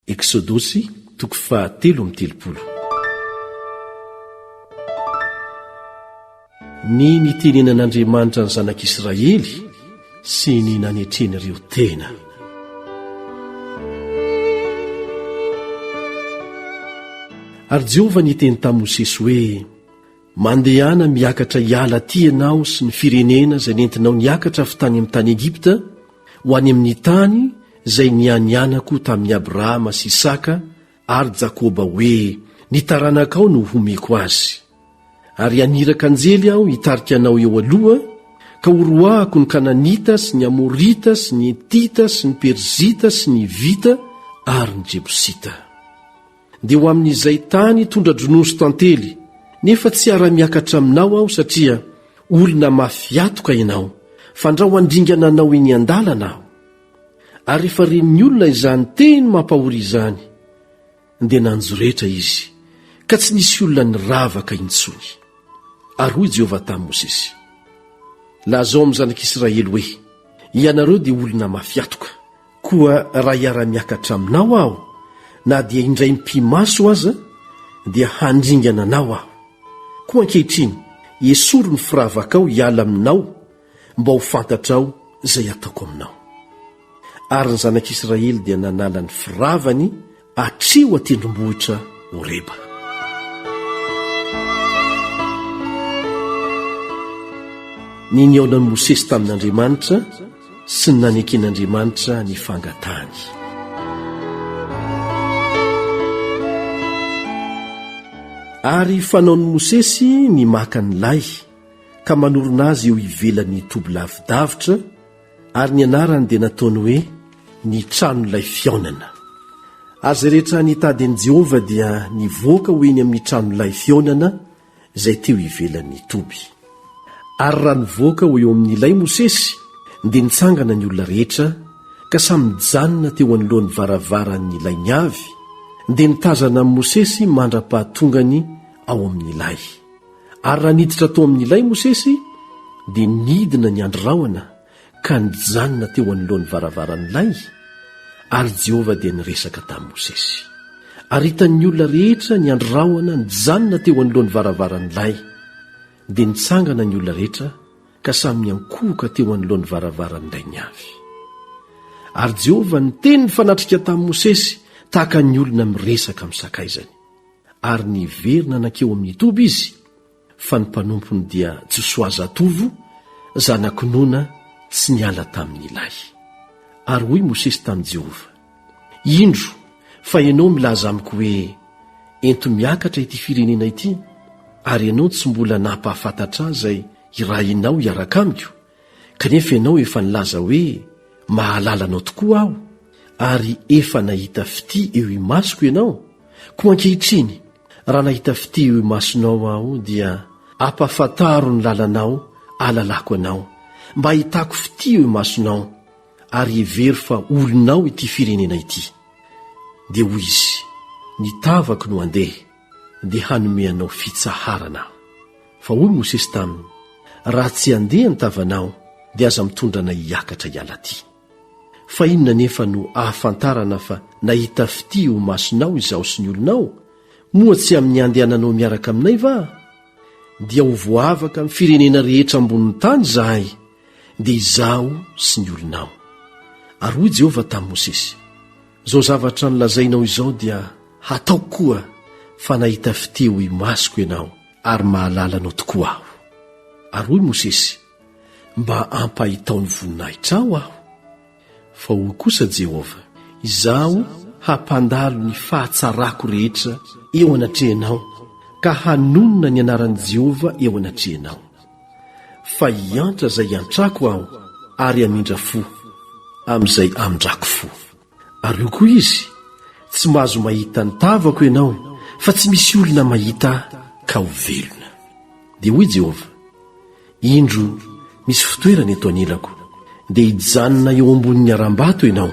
Eksodosy toko faha telo amby telopolo. Ny nitenenan'Andriamanitra ny zanak'Israely sy ny nanetren'ireo tena. Ary Jehovah niteny tamin'i Mosesy hoe. Mandehana miakatra hiala aty ianao sy ny firenena izay nentinao niakatra avy tany amin'ny tany Egypta ho any amin'ny tany izay nianianako tamin'i Abrahama sy Isaka ary Jakoba hoe ny taranakao no homeko azy. Ary haniraka anjely aho hitarika anao eo aloha ka horoahako ny Kananita sy ny Amorita sy ny Hetita sy ny Perzita sy ny Hivita ary ny Jebosita. dia ho amin'izay tany tondra-dronono sy tantely, nefa tsy hiara-miakatra aminao aho satria olona mafy atoka ianao, fandrao handringana anao eny an-dalana aho. Ary rehefa ren'ny olona izany teny mampahory izany, dia nanjoretra izy, ka tsy nisy olona niravaka intsony. Ary hoy Jehovah tamin'i Mosesy, Lazao amin'ny zanak'Israely hoe, Ianareo dia olona mafy atoka. Koa raha hiara-miakatra aminao aho, na dia indray mipi-maso aza, dia handringana anao aho. Koa ankehitriny, esory ny firavakao hiala aminao, mba ho fantatrao izay ataoko aminao. Ary ny zanak'Israely dia nanala ny firavany Atreo an-tendrombohitra Horeba. Ny nihaonan'i Mosesy tamin'Andriamanitra sy ny naneken'Andriamanitra ny fangatahany. Ary fanaon'i Mosesy ny maka ny lay ka manorina azy eo ivelan'ny toby lavidavitra Ary ny anarany dia nataony hoe Ny Tranolay Fihaonana. Ary izay rehetra nitady an'i Jehovah dia nivoaka ho eny amin'ny Tranolay Fihaonana izay teo ivelan'ny toby. Ary raha nivoaka ho eo amin'ny lay Mosesy, dia nitsangana ny olona rehetra, ka samy nijanona teo anoloan'ny varavaran'ny lay ny avy, dia nitazana an'i Mosesy mandra-pahatongany ao amin'ny lay. Ary raha niditra tao amin'ny lay Mosesy, dia nidina ny andry rahona ka nijanona teo anoloan'ny varavaran'ny lay, ary Jehovah dia niresaka tamin'i Mosesy. Ary hitan'ny olona rehetra ny andry rahona nijanona teo anoloan'ny varavaran'ny lay. Dia nitsangana ny olona rehetra ka samy niankohoka teo anoloan'ny varavaran'ny lay ny avy. Ary Jehovah niteny nifanatrika tamin'i Mosesy tahaka ny olona miresaka amin'ny sakaizany. ary niverina nankeo amin'ny toby izy fa ny mpanompony dia Josoa zatovo zanak'i Nona tsy niala tamin'ilay. Ary hoy Mosesy tamin'i Jehovah, Indro fa ianao milaza amiko hoe, 'Ento miakatra ity firenena ity', ary ianao tsy mbola nampahafantatra ahy izay hirahinao hiaraka amiko, Kanefa ianao efa nilaza hoe, Mahalala anao tokoa aho, ary efa nahita fitia eo imasoko ianao, koa ankehitriny, raha nahita fitia eo imasonao aho, dia ampahafantaro ny lalanao ahalalako anao, mba hahitako fitia eo imasonao, ary hevero fa olonao ity firenena ity. Dia hoy izy, Ny tavako no handeha. dia hanome anao fitsaharana aho. Fa hoy Mosesy taminy, Raha tsy handeha ny tavanao, dia aza mitondra anay hiakatra hiala aty. Fa inona anefa no ahafantarana fa nahita fitia eo imasonao izaho sy ny olonao? Moa tsy amin'ny handehananao miaraka aminay va? Dia ho voavaka amin'ny firenena rehetra ambonin'ny tany izahay, dia izaho sy ny olonao. Ary hoy Jehovah tamin'i Mosesy, Izao zavatra nolazainao izao dia hataoko koa fa nahita fitia ho imasoko ianao ary mahalala anao tokoa aho. Ary hoy Mosesy, Mba ampahitao ny voninahitrao aho. Fa hoy kosa Jehovah, Izaho hampandalo ny fahatsarako rehetra eo anatrehanao ka hanonona ny anaran'i Jehovah eo anatrehanao. Fa hiantra izay hiantrako aho, ary hamindra fo amin'izay hamindrako fo. Ary hoy koa izy, Tsy mahazo mahita ny tavako ianao, fa tsy misy olona mahita ahy ka ho velona. Dia hoy Jehovah, Indro, misy fitoerana eto anilako, dia hijanona eo ambonin'ny harambato ianao.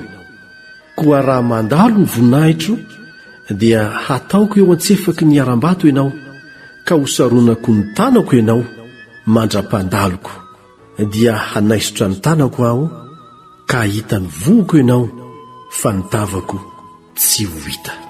Koa raha mandalo ny voninahitro, dia hataoko eo an-tsefaky ny harambato ianao, ka hosaronako ny tanako ianao mandra-pandaloko, dia hanaisotra ny tanako aho, ka hahita ny vohoko ianao, fa ny tavako tsy ho hita.